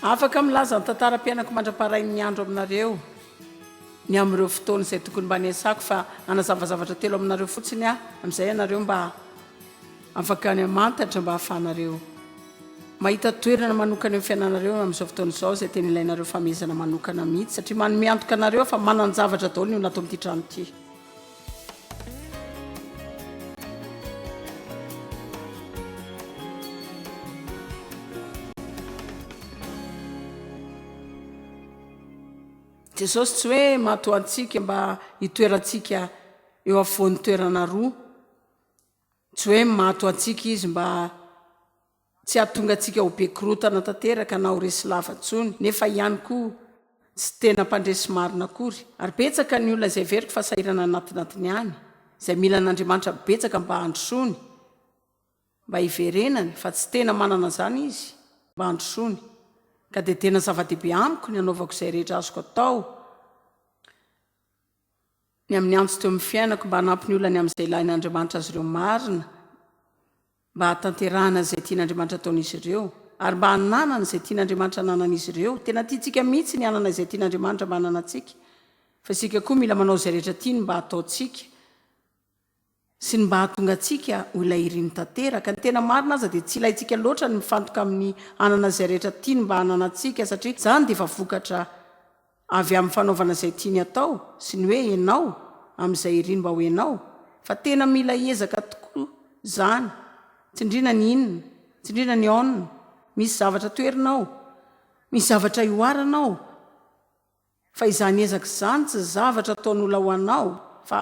Afaka milaza ny tantaram-piainako mandra-paharain'ny andro aminareo ny amin'ireo fotoana izay tokony mba niasako fa hanazava zavatra telo aminareo fotsiny aho amin'izay ianareo mba afaka any amantatra mba hahafahanareo mahita toerana manokana amin'ny fiainanareo amin'izao fotoana izao izay tena ilainareo famehezana manokana mihitsy satria manome antoka anareo fa manan-javatra daholo ny ho natao amin'ity trano ity. Jesosy tsy hoe matoa antsika mba hitoerantsika eo afovoan'ny toerana roa, tsy hoe matoa antsika izy mba Tsy hahatonga antsika ho be korontana tanteraka na ho resy lava intsony, nefa ihany koa tsy tena mpandresy marina akory. Ary betsaka ny olona izay heveriko fa sahirana anatinatiny ihany, izay mila an'Andriamanitra betsaka mba handrosoany, mba hiverenany, fa tsy tena manana an'izany izy mba handrosoany. Ka dia tena zava-dehibe amiko ny hanaovako izay rehetra azoko atao ny amin'ny antsy teo amin'ny fiainako mba hanampy ny olany amin'izay ilain'Andriamanitra azy ireo marina, mba hahatanterahana izay tian'Andriamanitra ataon'izy ireo, ary mba hananany izay tian'Andriamanitra hananan'izy ireo. Tena tiantsika mihitsy ny hanana izay tian'Andriamanitra mba hananantsika, fa isika koa mila manao izay rehetra tiany mba hataontsika sy ny mba hahatonga antsika ho ilay iriny tanteraka. Ny tena marina aza dia tsy ilaintsika loatra ny mifantoka amin'ny hanana izay rehetra tiany mba hananantsika, satria izany dia efa vokatra Avy amin'ny fanaovana izay tiany atao sy ny hoe enao amin'izay iry mba ho enao fa tena mila ezaka tokoa zany, tsindrina ny inona, tsindrina ny aona, misy zavatra toerina ao, misy zavatra ihoarana ao fa izany ezaka izany tsy zavatra ataon'ola ho anao fa.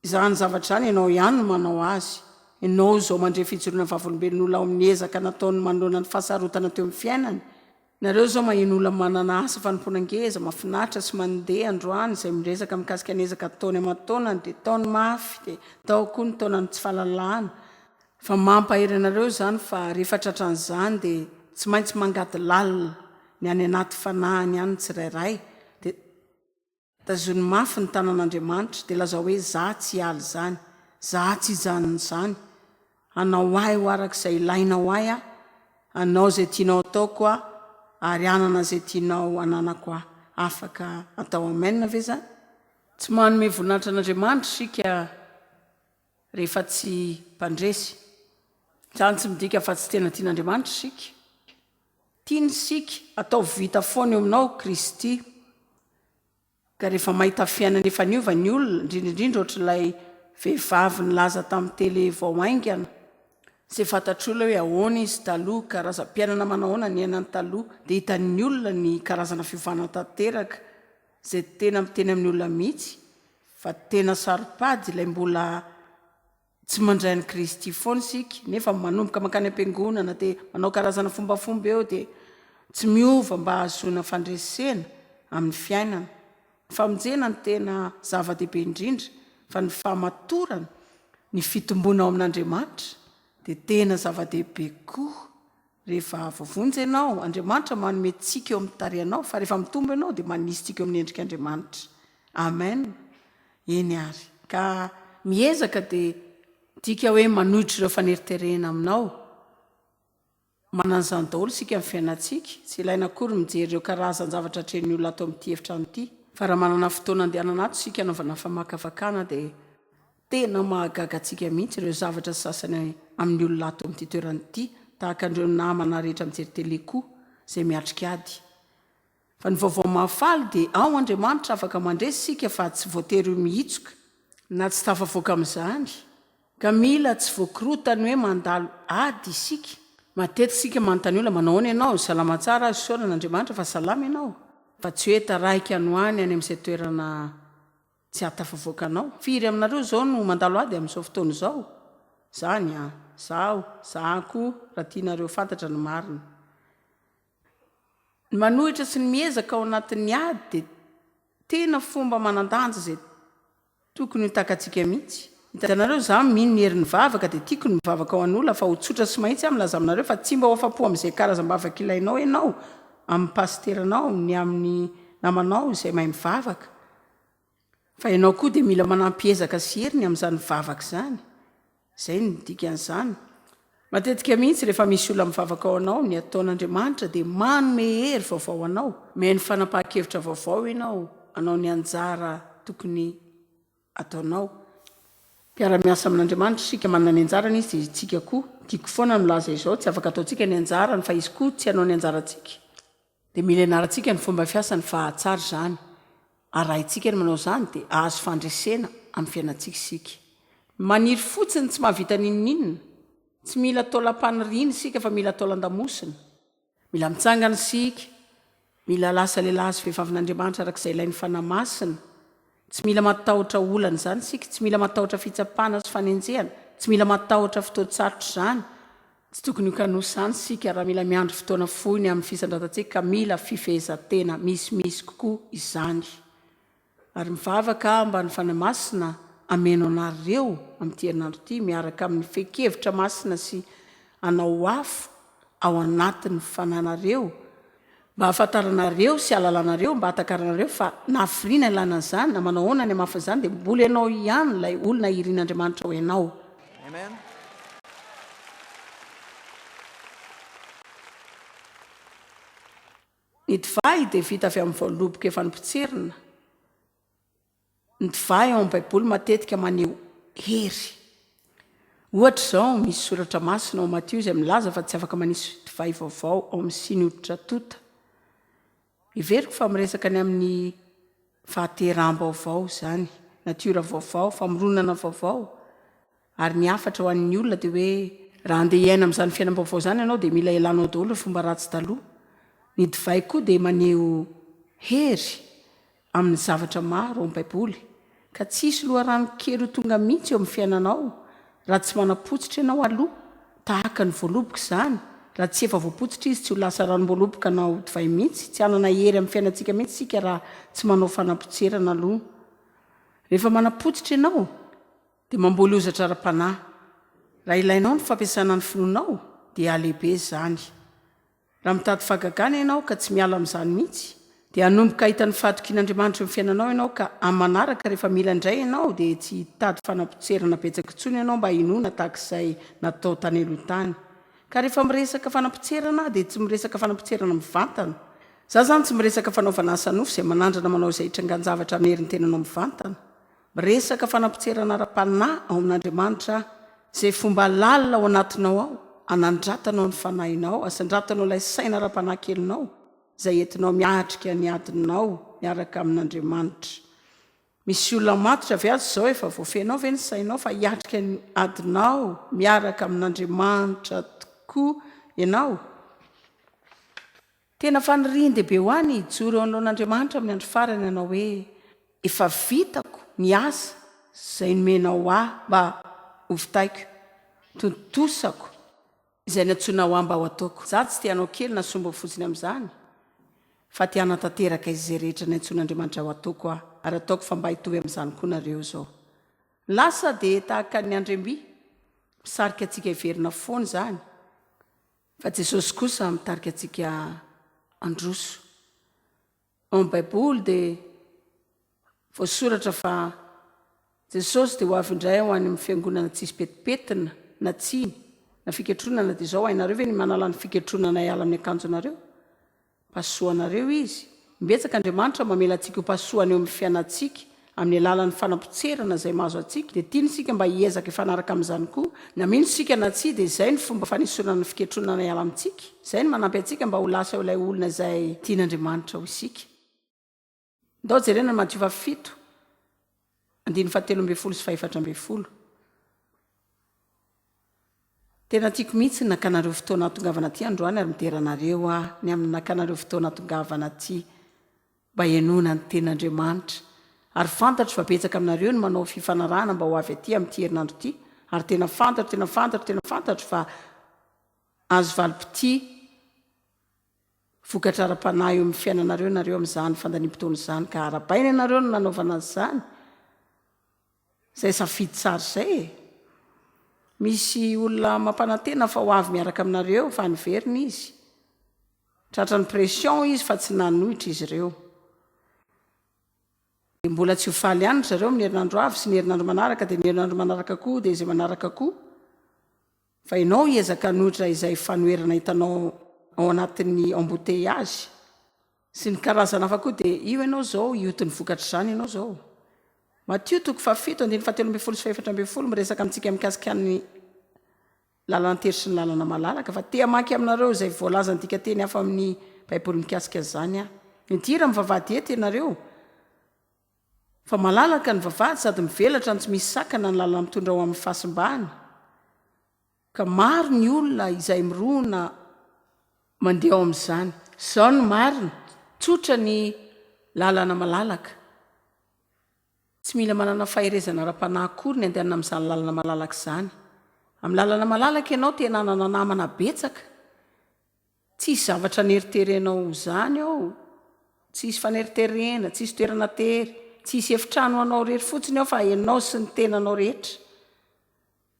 Izany zavatra izany ianao ihany no manao azy. Ianao izao mandre fijoroana vavolombelon'olona ao amin'ny ezaka nataony manoloana ny fahasarotana teo amin'ny fiainany. Nareo izao maheno olona manana asa fanompoana ngeza, mafinaritra sy mandeha androany izay miresaka mikasika ny ezaka ataony aman-taonany dia ataony mafy dia atao koa ny taonan'ny tsy fahalalahana. Fa mampahery anareo izany fa rehefa tratran'izany dia tsy maintsy mangady lalina ny any anaty fanahiny any ny tsirairay dia Tazony mafy ny tanan'Andriamanitra dia lazao hoe, Za tsy hiala izany, za tsy hijanona izany. Hanao ahy ho araka izay ilainao ahy aho, hanao izay tianao hataoko aho, ary hanana izay tianao hananako aho. Afaka atao Amen ve izany? Tsy manome voninahitra an'Andriamanitra isika. rehefa tsy mpandresy. Izany tsy midika fa tsy tena tian'Andriamanitra isika. Tiany isika, ataovy vita foana eo aminao Kristy. Ka rehefa mahita fiainana efa niova ny olona, indrindra indrindra ohatr'ilay vehivavy nilaza tamin'ny tele vao haingana, izay fantatr'olona hoe ahoana izy taloha, karazam-piainana manahoana niainany taloha, dia hitan'ny olona ny karazana fiovana tanteraka. Izay tena miteny amin'ny olona mihitsy fa tena saro-pady ilay mbola tsy mandray an'i Kristy foana isika nefa manomboka mankany am-piangonana dia manao karazana fombafomba eo dia tsy miova mba hahazoana fandresena amin'ny fiainana. Ny famonjena no tena zava-dehibe indrindra fa ny fahamatorana, ny fitomboana ao amin'Andriamanitra dia tena zava-dehibe koa. Rehefa voavonjy ianao, Andriamanitra manome tsiky eo amin'ny tarehinao, fa rehefa mitombo ianao dia manisy tsiky eo amin'ny endrik'Andriamanitra. Amen. Eny ary. Ka miezaka dia midika hoe manohitra ireo faneriterehina aminao. Manana an'izany daholo isika amin'ny fiainantsika. Tsy ilaina akory ny mijery ireo karazan-javatra atrehin'ny olona ato amin'ity efitrano ity. Fa raha manana fotoana andehanana ato isika hanaovana famakafakana dia Tena mahagaga antsika mihitsy ireo zavatra sasany amin'ny olona ato amin'ity toerana ity, tahaka an'ireo namana rehetra mijery tele koa izay miatrika ady. Fa ny vaovao mahafaly dia ao Andriamanitra afaka mandresy isika fa tsy voatery ho mihitsoka na tsy tafavoaka amin'izany ka mila tsy voakorotan'ny hoe mandalo ady isika. Matetika isika manontany olona, manao ahoana ianao? Salama tsara aho, isaorana Andriamanitra fa salama ianao? Fa tsy hoe taraiky any ho any any amin'izay toerana Tsy hahatafavoaka anao. Firy aminareo izao no mandalo ady amin'izao fotoana izao? Izany an! Izaho, izaho koa, raha tianareo ho fantatra ny marina. Ny manohitra sy ny miezaka ao anatin'ny ady dia tena fomba manan-danja izay tokony ho takatsika mihitsy. Hitanareo, izaho mino ny herin'ny vavaka, dia tiako ny mivavaka ho an'olona, fa ho tsotra sy mahitsy aho milaza aminareo fa tsy mba ho afa-po amin'izay karazam-bavaka ilainao ianao, amin'ny pasiteranao, ny amin'ny namanao izay mahay mivavaka. Fa ianao koa dia mila manampy ezaka sy hery ny amin'izany vavaka izany. Izay no dikan'izany. Matetika mihitsy rehefa misy olona mivavaka ao anao, ny ataon'Andriamanitra dia manome hery vaovao anao, mihaino fanapahan-kevitra vaovao ianao, hanao ny anjara tokony ataonao. Mpiara-miasa amin'Andriamanitra isika, manana ny anjarany Izy dia isika koa. Tiako foana ny milaza izao, tsy afaka ataontsika ny anjarany, fa Izy koa tsy hanao ny anjarantsika. Dia mila ianarantsika ny fomba fiasan'ny fahatsary izany. Arahintsika ny manao izany dia hahazo fandresena amin'ny fiainantsika isika. Maniry fotsiny tsy mahavita n'inon'inona. Tsy mila taolam-paniriana isika fa mila taolan-damosina. Mila mitsangana isika. Mila lasa lehilahy sy vehivavin'Andriamanitra araka izay ilain'ny Fanahy Masina. Tsy mila matahotra olana izany isika, tsy mila matahotra fitsapana sy fanenjehana, tsy mila matahotra fotoan-tsarotra izany. Tsy tokony ho kanosa izany isika raha mila miandry fotoana fohy ny amin'ny fisandratantsika ka mila fifehezan-tena misimisy kokoa izany. Ary mivavaka aho mba ny Fanahy Masina hameno anareo amin'ity herinandro ity miaraka amin'ny fehin-kevitra masina sy hanao afo ao anatin'ny fananareo Mba hahafantaranareo sy halalanareo, mba hatakaranareo fa nahafiriana ilana an'izany, na manao ahoana ny hamafin'ny izany, dia mbola ianao ihany ilay olona irin'Andriamanitra ho ianao. Ny divay dia vita avy amin'ny voaloboka efa nopotserina. Ny divay ao amin'ny Baiboly matetika maneho hery. Ohatra izao, misy soratra masina ao amin'ny Matio izay milaza fa tsy afaka manisy divay vaovao ao amin'ny siny hoditra tonta. Heveriko fa miresaka ny amin'ny fahateraham-baovao izany, natiora vaovao, famoronana vaovao. Ary ny hafatra ho an'ny olona dia hoe raha handeha hiaina amin'izany fiainam-baovao izany ianao dia mila elanao daholo ny fomba ratsy taloha. Ny divay koa dia maneho hery amin'ny zavatra maro ao amin'ny Baiboly, ka tsy hisy loharano kely ho tonga mihitsy eo amin'ny fiainanao raha tsy manapotsitra ianao aloha, tahaka ny voaloboka izany, raha tsy efa voapotsitra izy tsy ho lasa ranom-boaloboka na ho divay mihitsy, tsy hanana hery amin'ny fiainantsika mihitsy isika raha tsy manao fanapotserana aloha rehefa manapotsitra ianao. Dia mamboly hozatra ara-panahy. Raha ilainao ny fampiasana ny finoanao, dia halehibe izany. Raha mitady fahagagana ianao ka tsy miala amin'izany mihitsy, dia hanomboka hahita ny fahatokian'Andriamanitra amin'ny fiainanao ianao ka amin'ny manaraka rehefa mila indray ianao dia tsy hitady fanapotserana betsaka intsony ianao mba hinoana tahaka izay natao tany aloha tany. Ka rehefa miresaka fanapotserana aho dia tsy miresaka fanapotserana mivantana. Za zany tsy miresaka fanaovana asa nofo izay manandrana manao izay itrangan-javatra amin'ny herin'ny tenanao mivantana. Miresaka fanapotserana ara-panahy ao amin'Andriamanitra aho, izay fomba lalina ao anatinao ao, hanandratanao ny fanahinao, hasandratanao ilay saina ara-panahy kelinao, izay entinao miatrika ny adinao miaraka amin'Andriamanitra. Misy olona matotra ve ato izao? Efa voafehinao ve ny sainao fa hiatrika ny adinao miaraka amin'Andriamanitra tokoa ianao? Tena fanirian-dehibe ho ahy ny hijoro eo anoloan'Andriamanitra amin'ny andro farany hanao hoe, Efa vitako ny asa izay nomenao ahy mba hovitaiko, tontosako izay nantsoinao ahy mba ho ataoko. Izaho tsy te hanao kely na sombo fotsiny amin'izany, fa te hanatanteraka izay rehetra nantsoin'Andriamanitra ho ataoko aho, ary ataoko fa mba hitovy amin'izany koa nareo izao. Ny lasa dia tahaka ny andriamby, misarika antsika hiverina foana izany. Fa Jesosy kosa mitarika antsika handroso. Ao amin'ny Baiboly dia voasoratra fa Jesosy dia ho avy indray ho any amin'ny fiangonana tsisy petipetina na tsiny na fiketronana dia izao hainareo ve ny manala ny fiketronanay ala amin'ny akanjonareo? Pasoha anareo Izy. Imbetsaka Andriamanitra mamela antsika ho pasoha any eo amin'ny fiainantsika, amin'ny alalan'ny fanapotserana izay mahazo antsika, dia tiany isika mba hiezaka hifanaraka amin'izany koa. Na mino isika na tsia, dia izay no fomba fanesorana ny fiketronana hiala amintsika. Izay no manampy antsika mba ho lasa ho ilay olona izay tian'Andriamanitra ho isika. Ndao jerena ny Matiova fito, andininy fahatelo ambin'ny folo sy fahefatra ambin'ny folo. Tena tiako mihitsy ny nakanareo fotoana hahatongavana aty androany ary midera anareo aho ny amin'ny nakanareo fotoana hahatongavana aty mba henoana ny tenin'Andriamanitra. Ary fantatro fa betsaka aminareo no manao fifanarahana mba ho avy aty amin'ity herinandro ity ary tena fantatro, tena fantatro, tena fantatro fa azo valim-pitia. Vokatra ara-panahy eo amin'ny fiainanareo ianareo amin'izany fandaniam-potoana izany ka arahabaina ianareo no nanaovana an'izany. Izay safidy tsara izay e! Misy olona mampanantena fa ho avy miaraka aminareo fa niverina izy. Tratran'ny pression izy fa tsy nanohitra izy ireo. Dia mbola tsy ho faly ihany ry zareo amin'ny herinandro avy sy ny herinandro manaraka dia ny herinandro manaraka koa dia izay manaraka koa. Fa ianao hiezaka hanohitra izay fanoherana hitanao ao anatin'ny embouteillages sy ny karazana hafa koa dia io ianao izao hioty ny vokatr'izany ianao izao. Matio toko fahafito andininy fahatelo ambin'ny folo sy fahefatra ambin'ny folo miresaka amintsika mikasika ny lalan-tery sy ny lalana malalaka fa te hamaky aminareo izay voalazan'ny dikanteny hafa amin'ny baiboly mikasika izany aho. Midira mivavahady eto ianareo. Fa malalaka ny vavahady sady mivelatra ny tsy misy sakana ny lalana mitondra ho amin'ny fahasimbana, ka maro ny olona izay mirona mandeha ao amin'izany. Izao no marina, Tsotra ny lalana malalaka. Tsy mila manana faherezana ara-panahy akory ny andehanana amin'izany lalana malalaka izany. Amin'ny lalana malalaka ianao te hananana namana betsaka. Tsy hisy zavatra aneriterenao ho izany ao. Tsy hisy faneriterena, tsy hisy toerana tery, tsy hisy efitrano ho anao irery fotsiny ao fa ianao sy ny tenanao rehetra.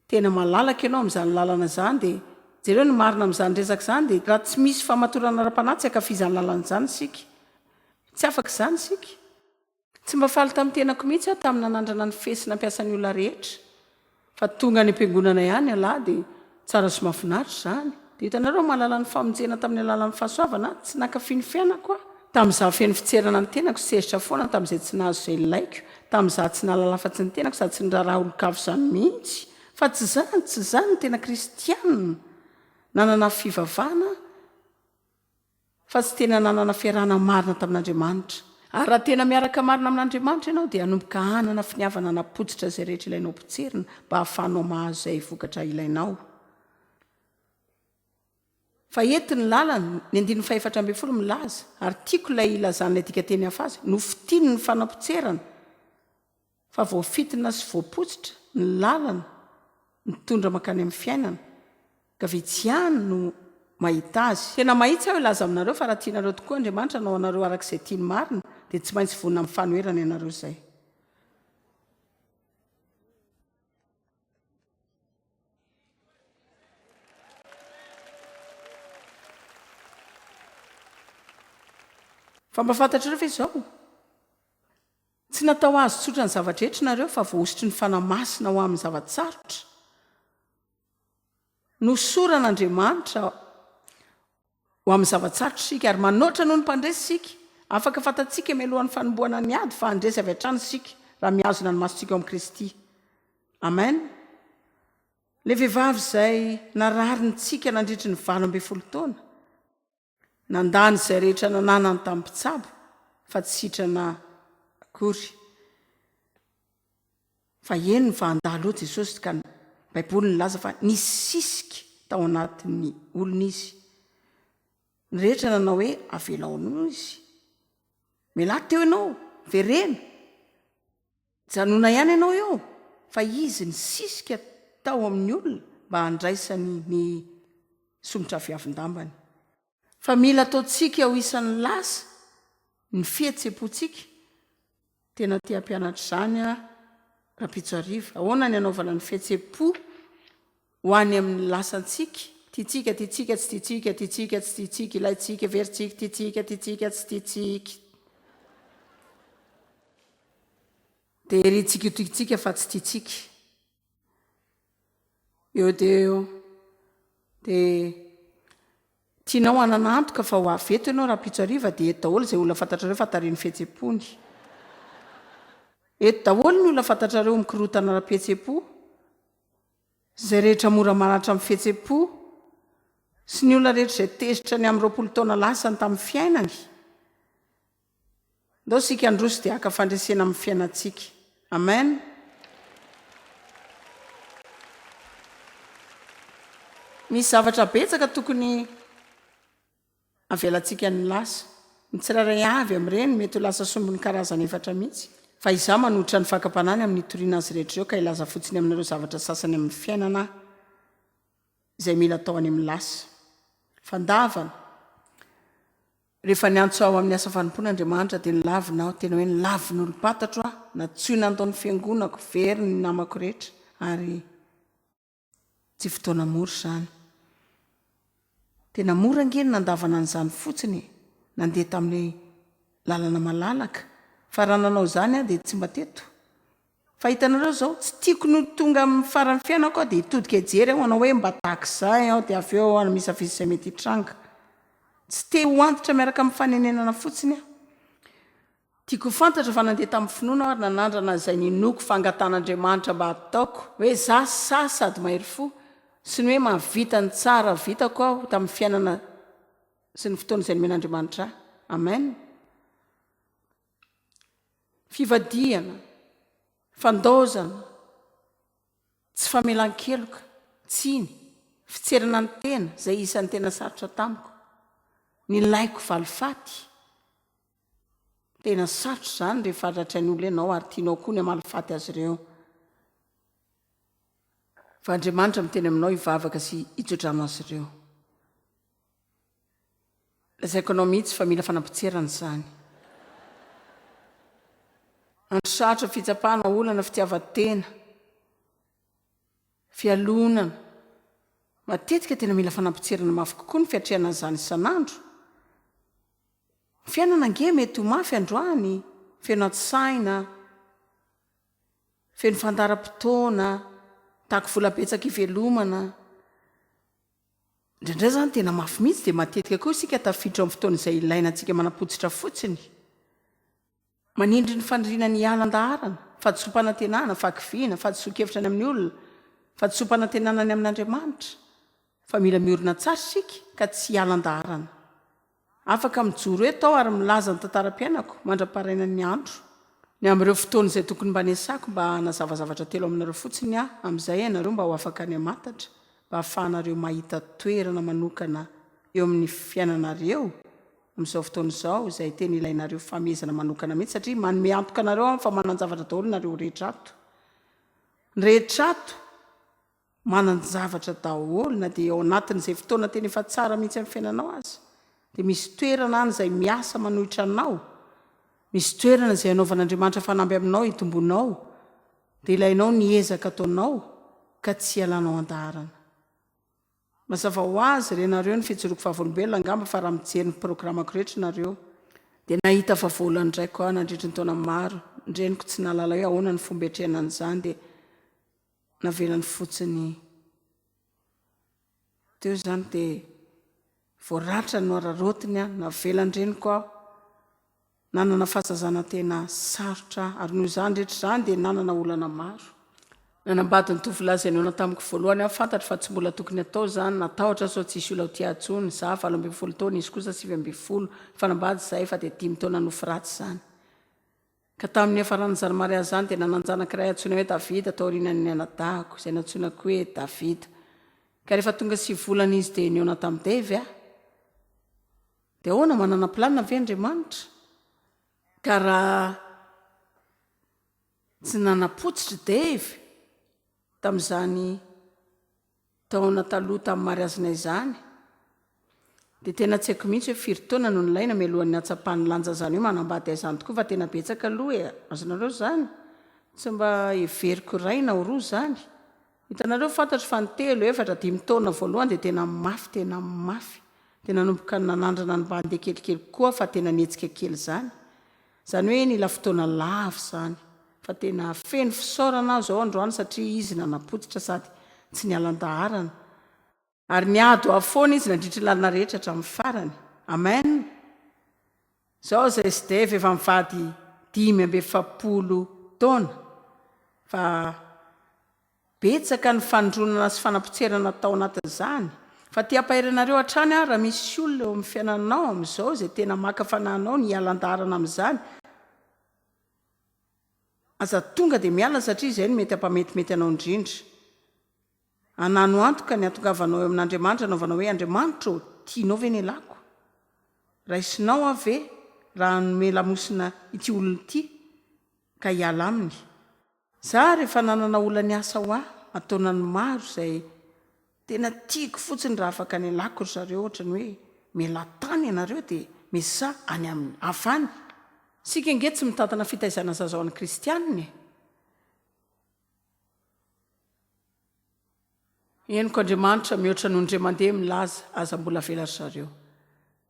Tena malalaka ianao amin'izany lalana izany dia jereo ny marina amin'izany resaka izany dia raha tsy misy famatorana ara-panahy tsy ankafizan'ny lalana izany isika. Tsy afaka izany isika. Tsy mba faly tamin'ny tenako mihitsy aho tamin'ny nanandrana ny feisy nampiasan'ny olona rehetra fa tonga any am-piangonana ihany ialahy dia tsara sy mahafinaritra izany. Dia hitanareo mahalala ny famonjena tamin'ny alalan'ny fahasoavana aho. Tsy nankafy ny fiainako aho tamin'izaho feno fitserana ny tenako, sehitra foana tamin'izay tsy nahazo izay nilaiko, tamin'izaho tsy nahalala afa-tsy ny tenako sady tsy niraharaha olon-kafa izany mihitsy. Fa tsy izany, tsy izany ny tena kristiana. Nanana fivavahana aho. Fa tsy tena nanana fiarahana marina tamin'Andriamanitra. Ary raha tena miaraka marina amin'Andriamanitra ianao, dia hanomboka hanana finiavana hanapotsitra izay rehetra ilainao potserina mba hahafahanao mahazo izay vokatra ilainao. Fa eto ny lalana, ny andininy fahefatra ambin'ny folo milaza, ary tiako ilay ilazan'ilay dikateny hafa azy, nofitiny ny fanapotserana. Fa voafintina sy voapotsitra ny lalana mitondra mankany amin'ny fiainana, ka vitsy ihany no mahita azy. Tena mahitsy aho hilaza aminareo fa raha tianareo tokoa Andriamanitra hanao anareo araka izay tiany marina, dia tsy maintsy vonona amin'ny fanoherana ianareo izay. Fa mba fantatrareo ve izao? Tsy natao azo tsotra ny zava-drehetra nareo fa voahosotry ny Fanahy Masina ho amin'ny zava-tsarotra. Nohosoran' Andriamanitra ho amin'ny zava-tsarotra isika ary manoatra noho ny mpandresy isika. Afaka fantatsika mialohan'ny fanombohana ny ady fa handresy avy hatrany isika raha mihazona ny masontsika ao amin'i Kristy. Amen. Ilay vehivavy izay narary ny tsika nandritry ny valo ambin'ny folo taona. Nandany izay rehetra nananany tamin'ny mpitsabo fa tsy sitrana akory. Fa eny ny fahandalo eo Jesosy ka ny Baiboly nilaza fa nisisika tao anatin'ny olona izy. Ny rehetra nanao hoe avelao aloha izy. Mialà teo ianao, vereno. Janona ihany ianao eo fa izy nisisika tao amin'ny olona mba handraisany ny somotra viavin-dambany. Fa mila ataontsika ho isan'ny lasa ny fihetsempontsika, tena te hampianatra izany aho Rampitso Hariva, ahoana ny hanaovana ny fihetsempo Ho any amin'ny lasantsika, tiantsika, tiantsika, tsy tiantsika, tiantsika, tsy tiantsika, ilaintsika, heverintsika, tiantsika, tiantsika, tsy tiantsika. Dia herintsika io tiantsika fa tsy tiantsika. Eo dia eo. Dia tianao hanana antoka fa ho avy eto ianao rahampitso hariva dia eto daholo izay olona fantatrareo fa tarehin'ny fihetsem-pony. Eto daholo ny olona fantatrareo mikorontana ara-pihetsem-po. Izay rehetra mora maratra amin'ny fihetsem-po sy ny olona rehetra izay tezitra ny amin'ny roapolo taona lasany tamin'ny fiainany. Ndao isika handroso dia haka fandresena amin'ny fiainantsika. Amen. Misy zavatra betsaka tokony. Avelantsika ny lasa. Ny tsirairay avy amin'ireny mety ho lasa sombiny karazany efatra mihitsy, fa Izaho manohitra ny fakam-panahy ny amin'ny hitoriana azy rehetra ireo ka hilaza fotsiny aminareo zavatra sasany amin'ny fiainana Aho izay mila atao any amin'ny lasa. Fandavana, Rehefa niantso Aho amin'ny asa fanompoana Andriamanitra dia nilavina Aho, tena hoe nilavina olom-pantatro Aho, nantsoina nataon'ny fiangonako, very ny namako rehetra, ary. Tsy fotoana mora izany. Tena mora ange ny nandavana an'izany fotsiny e! Nandeha tamin'ny lalana malalaka fa raha nanao izany aho dia tsy mba teto. Fa hitanareo izao, tsy tiako ny ho tonga amin'ny faran'ny fiainako aho dia hitodika hijery aho hanao hoe mba tahaka izay aho dia avy eo hanamisavisa izay mety hitranga. Tsy te ho antitra miaraka amin'ny fanenenana fotsiny aho. Tiako ho fantatra fa nandeha tamin'ny finoana aho ary nanandrana izay ninoako fa angatahan'Andriamanitra mba hataoko hoe za sahy sady mahery fo sy ny hoe mahavita ny tsara vitako aho tamin'ny fiainana sy ny fotoana izay nomen'Andriamanitra ahy. Amen. Fivadihana, fandaozana, tsy famelan-keloka, tsiny, fitserana ny tena izay isan'ny tena sarotra tamiko. Nilaiko valifaty. Tena sarotra izany rehefa haratry ny olona ianao ary tianao koa ny hamalifaty azy ireo. Fa Andriamanitra miteny aminao hivavaka sy hitoetra amin'azy ireo. Lazaiko anao mihitsy fa mila fanampotserana izany. Andro sarotra, fitsapana, olana, fitiavan-tena, fialonana. Matetika tena mila fanampotserana mafy kokoa ny fiatrehana an'izany isan'andro. Ny fiainana ange mety ho mafy androany, feno an-tsaina, feno fandaharam-potoana, mitaky vola betsaka ivelomana. Indraindray izany tena mafy mihitsy dia matetika koa isika tafiditra amin'ny fotoana izay ilaina antsika manapotsitra fotsiny. Manindry ny faniriana ny hiala an-daharana, fahadisoam-panantenana, fahakiviana, fahadisoan-kevitra ny amin'ny olona, fahadisoam-panantenana ny amin'Andriamanitra, fa mila miorina tsara isika ka tsy hiala an-daharana. Afaka mijoro eto aho ary milaza ny tantaram-piainako mandra-parainan'ny andro. Ny amin'ireo fotoana izay tokony mba niasako mba hanazava zavatra telo aminareo fotsiny aho amin'izay ianareo mba ho afaka ny hamantatra, mba hahafahanareo mahita toerana manokana eo amin'ny fiainanareo, Amin'izao fotoana izao, izay tena ilainareo fifamehezana manokana mihitsy satria manome antoka anareo aho fa manan-javatra daholo nareo rehetra ato. Ny rehetra ato manan-javatra daholo na dia ao anatin'izay fotoana tena efa tsara mihitsy amin'ny fiainanao aza dia misy toerana any izay miasa manohitra anao, misy toerana izay anaovan'Andriamanitra fanamby aminao hitomboanao, dia ilainao ny ezaka ataonao ka tsy hialanao an-daharana. Mazava ho azy, renareo ny fijoroako vavolombelona angamba fa raha mijery ny programako rehetra nareo dia nahita vavoloana indray koa aho nandritry ny taona maro, ny reniko tsy nahalala hoe ahoana ny fomba hiatrehana an'izany dia navelany fotsiny teo izany dia voaratrany nohararaotiny aho, navelan-dreniko aho. Nanana fahazazana tena sarotra aho, ary noho izany rehetra izany dia nanana olana maro. Nanambady ny tovolahy izay noana tamiko voalohany aho, fantatro fa tsy mbola tokony hatao izany, natahotra aho sao tsy hisy olona ho tia ahy intsony. Izaho valo ambin'ny folo taona, izy kosa sivy ambin'ny folo. Nifanambady izahay efa dia dimy taona nofy ratsy izany. Ka tamin'ny niafaran'izany mariazy izany dia nanan-janaka iray antsoina hoe Davida taorianan'ny nianadahako, izay nantsoina koa hoe Davida. Ka rehefa tonga sivy volana izy dia nihaona tamin'i Dave aho. Dia ahoana, manana planina ve Andriamanitra? Ka raha tsy nanapotsitra i Dave tamin'izany taona taloha tamin'ny mariazina izany, dia tena tsy haiko mihitsy hoe firy taona no nilaina mialohan'ny hahatsapany lanja izany hoe manambady ahy izany tokoa fa tena betsaka aloha e! Azonareo izany? Tsy mba heveriko iray na roa izany. Hitanareo, fantatro fa ny telo, efatra, dimy taona voalohany dia tena mafy, tena mafy. Dia nanomboka nanandrana ny bandy kelikely kokoa fa tena nihetsika kely izany. Izany hoe nila fotoana lava izany. Fa tena feno fisaorana aho izao androany satria izy nanapotsitra sady tsy niala an-daharana. Ary niady ho avy foana izy nandritry ny lalana rehetra hatramin'ny farany. Amen! Izao izay sdf efa mivady dimy amby efapolo taona, fa betsaka ny fanondronana sy fanapotserana atao anatin'izany. Fa te hampahery anareo hatrany aho raha misy olona eo amin'ny fiainanao amin'izao izay tena maka fanahinao ny hiala an-daharana amin'izany, aza tonga dia miala satria izay no mety hampametimety anao indrindra. Anano antoka ny hatongavanao eo amin'Andriamanitra hanaovana hoe, Andriamanitra ô, tianao ve ny elako? Raisinao aho ve raha hanome lamosina ity olona ity ka hiala aminy? Izaho ary efa nanana olona niasa ho ahy an-taonany maro izay tena tiako fotsiny raha afaka ny elako ry zareo ohatrany hoe, Mialà tany ianareo dia mesa any aminy hafa any. Isika ange tsy mitantana fitaizana zaza ho an'ny kristianina e! Henoko Andriamanitra mihoatra noho ndre mandeha milaza aza mbola avela ry zareo.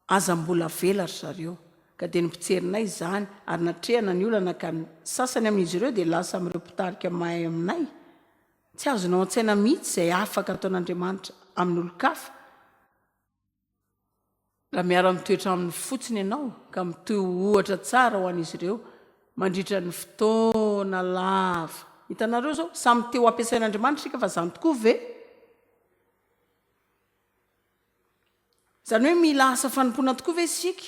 Aza mbola avela ry zareo. Ka dia ny mpitsirinay izany ary natrehana ny olana ka ny sasany amin'izy ireo dia lasa amin'ireo mpitarika mahay aminay. Tsy azonao an-tsaina mihitsy izay afaka ataon'Andriamanitra amin'olon-kafa. Raha miara-mitoetra aminy fotsiny ianao ka mitohy ho ohatra tsara ho an'izy ireo mandritra ny fotoana lava. Hitanareo izao? Samy te ho ampiasain'Andriamanitra isika fa izany tokoa ve? Izany hoe mila asa fanompoana tokoa ve isika?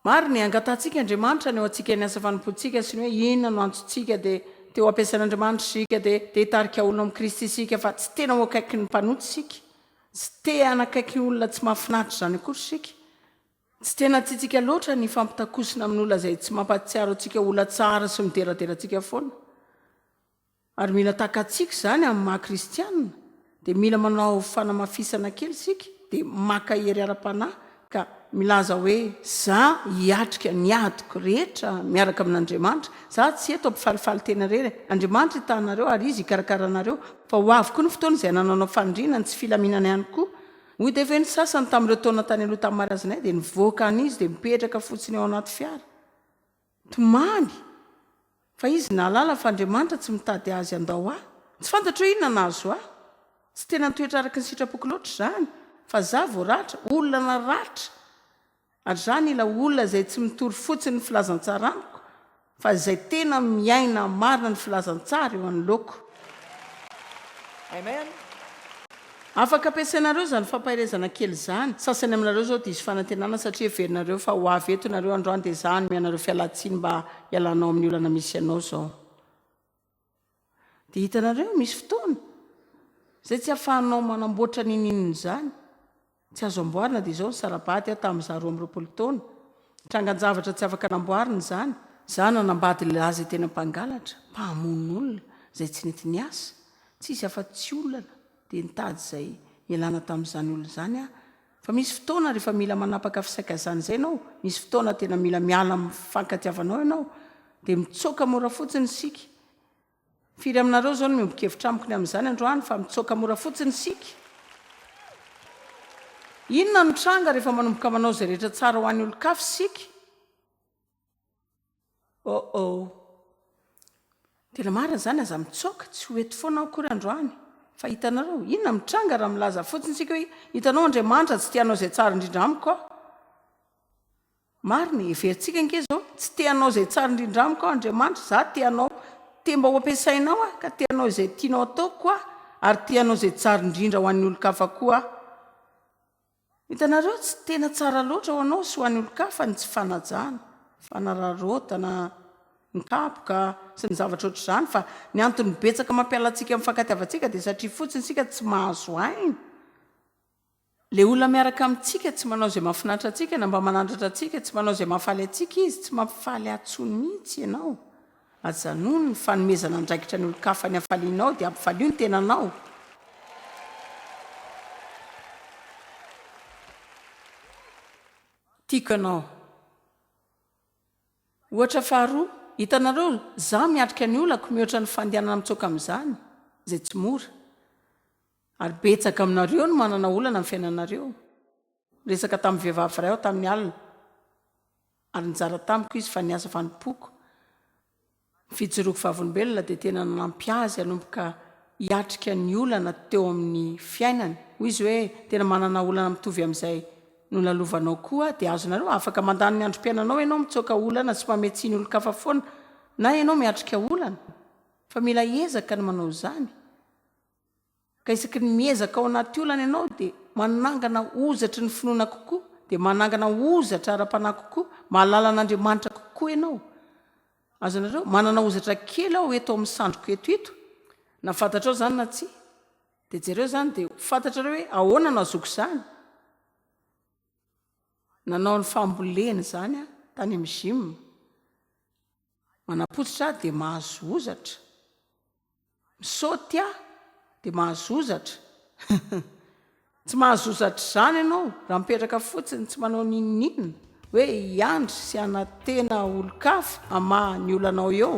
Maro ny angatahantsika Andriamanitra haneho antsika ny asa fanompoantsika sy ny hoe inona no antontsika dia te ho ampiasain' Andriamanitra isika dia te hitarika olona amin'i Kristy isika fa tsy tena ho akaiky ny mpanota isika tsy te hanakaiky olona tsy mahafinaritra izany akory isika tsy tena tiantsika loatra ny hifampitakosina amin'olona izay tsy mampahatsiaro antsika olona tsara sy mideradera antsika foana Ary mila takatsika izany amin'ny maha kristianina, dia mila manao fanamafisana kely isika, dia maka hery ara-panahy ka milaza hoe, Za hiatrika ny adiko rehetra miaraka amin'Andriamanitra, za tsy eto hampifalifaly tena irery e! Andriamanitra itahanareo ary Izy hikarakara anareo, fa ho avy koa ny fotoana izay hanananao faniriana ny tsy filaminana ihany koa. Hoy dia ve ny sasany tamin'ireo taona tany aloha tamin'ny marazinay, dia nivoaka any izy dia mipetraka fotsiny ao anaty fiara. Tomany! Fa izy nahalala fa Andriamanitra tsy mitady azy handao ahy. Tsy fantatro hoe inona nahazo ahy. Tsy tena nitoetra araka ny sitrapoko loatra izany, fa izaho vao ratra, olona naratra. Ary izaho nila olona izay tsy mitory fotsiny ny filazantsara amiko, fa izay tena miaina marina ny filazantsara eo anoloako. Afaka ampiasainareo izany fampaherezana kely izany. Sasany aminareo izao diso fanantenana satria heverinareo fa ho avy eto ianareo androany dia izaho hanome anareo fialan-tsiny mba hialanao amin'ny olana misy anao izao. Dia hitanareo, misy fotoana izay tsy ahafahanao manamboatra n'inon'inona izany. Tsy azo amboarina dia izao ny sara-bady aho tamin'izaho roa amby roapolo taona. Trangan-javatra tsy afaka namboarina izany. Izaho nanambady lehilahy izay tena mpangalatra, mpamono olona, izay tsy nety niasa. Tsy hisy afa-tsy olana, dia nitady izay hialana tamin'izany olona izany aho. Fa misy fotoana rehefa mila manapaka fisaikazana izay ianao, misy fotoana tena mila miala amin'ny fifankatiavanao ianao, dia mitsoaka mora fotsiny isika. Firy aminareo izao no miombon-kevitra amiko ny amin'izany androany fa mitsoaka mora fotsiny isika? Inona no tranga rehefa manomboka manao izay rehetra tsara ho an'ny olon-kafa isika? Oh oh. Tena marina izany, aza mitsoaka, tsy ho eto foana aho akory androany. Fa hitanareo, inona no tranga raha milaza fotsiny isika hoe hitanao Andriamanitra tsy te hanao izay tsara indrindra amiko aho? Marina e, heverintsika ange izao, tsy te hanao izay tsara indrindra amiko aho Andriamanitra, izaho te hanao, te mba ho ampiasainao aho, ka te hanao izay tianao hataoko koa aho, ary te hanao izay tsara indrindra ho an'ny olon-kafa koa aho. Hitanareo, tsy tena tsara loatra ho anao sy ho an'ny olon-kafa ny tsy fanajana, fanararaotana, ny kapoka, sy ny zavatra ohatr'izany, fa ny antony betsaka mampiala antsika amin'ny fankatiavantsika dia satria fotsiny isika tsy mahazo aina. Ilay olona miaraka amintsika tsy manao izay mahafinaritra antsika na mba manandratra antsika, tsy manao izay mahafaly antsika izy, tsy mampifaly ahy intsony mihitsy ianao. Aza nono ny fanomezana andraikitra ny olon-kafa ny hafalianao dia ampifalio ny tenanao. Tiako ianao. Ohatra faharoa, hitanareo, izaho miatrika ny olako mihoatra ny fandehanana mitsoaka amin'izany, izay tsy mora. Ary betsaka aminareo no manana olana amin'ny fiainanareo. Niresaka tamin'ny vehivavy iray aho tamin'ny alina, ary nizara tamiko izy fa niasa fanompoako. Ny fijoroako vavolombelona dia tena nanampy azy hanomboka hiatrika ny olana teo amin'ny fiainany. Hoy izy hoe, Tena manana olana mitovy amin'izay nolalovanao koa, dia azonareo. Afaka mandany ny androm-piainanao ianao mitsoaka olana sy mamehy tsiny olon-kafa foana, na ianao miatrika olana, fa mila hiezaka ny manao izany. Ka isaky ny miezaka ao anaty olana ianao dia manangana hozatry ny finoana kokoa, dia manangana hozatra ara-panahy kokoa, mahalala an'Andriamanitra kokoa ianao. Azonareo? Manana hozatra kely aho eto amin'ny sandriko eto ito, na fantatrao izany na tsia. Dia jereo izany dia ho fantatrareo hoe ahoana no hazoako izany. Nanao ny fambolena izany aho tany amin'ny gym. Manapotsitra aho dia mahazo hozatra, misaoty aho dia mahazo hozatra, hum! tsy mahazo hozatra izany ianao raha mipetraka fotsiny tsy manao n'inon'inona hoe hiandry sy hanantena olon-kafa hamaha ny olanao eo.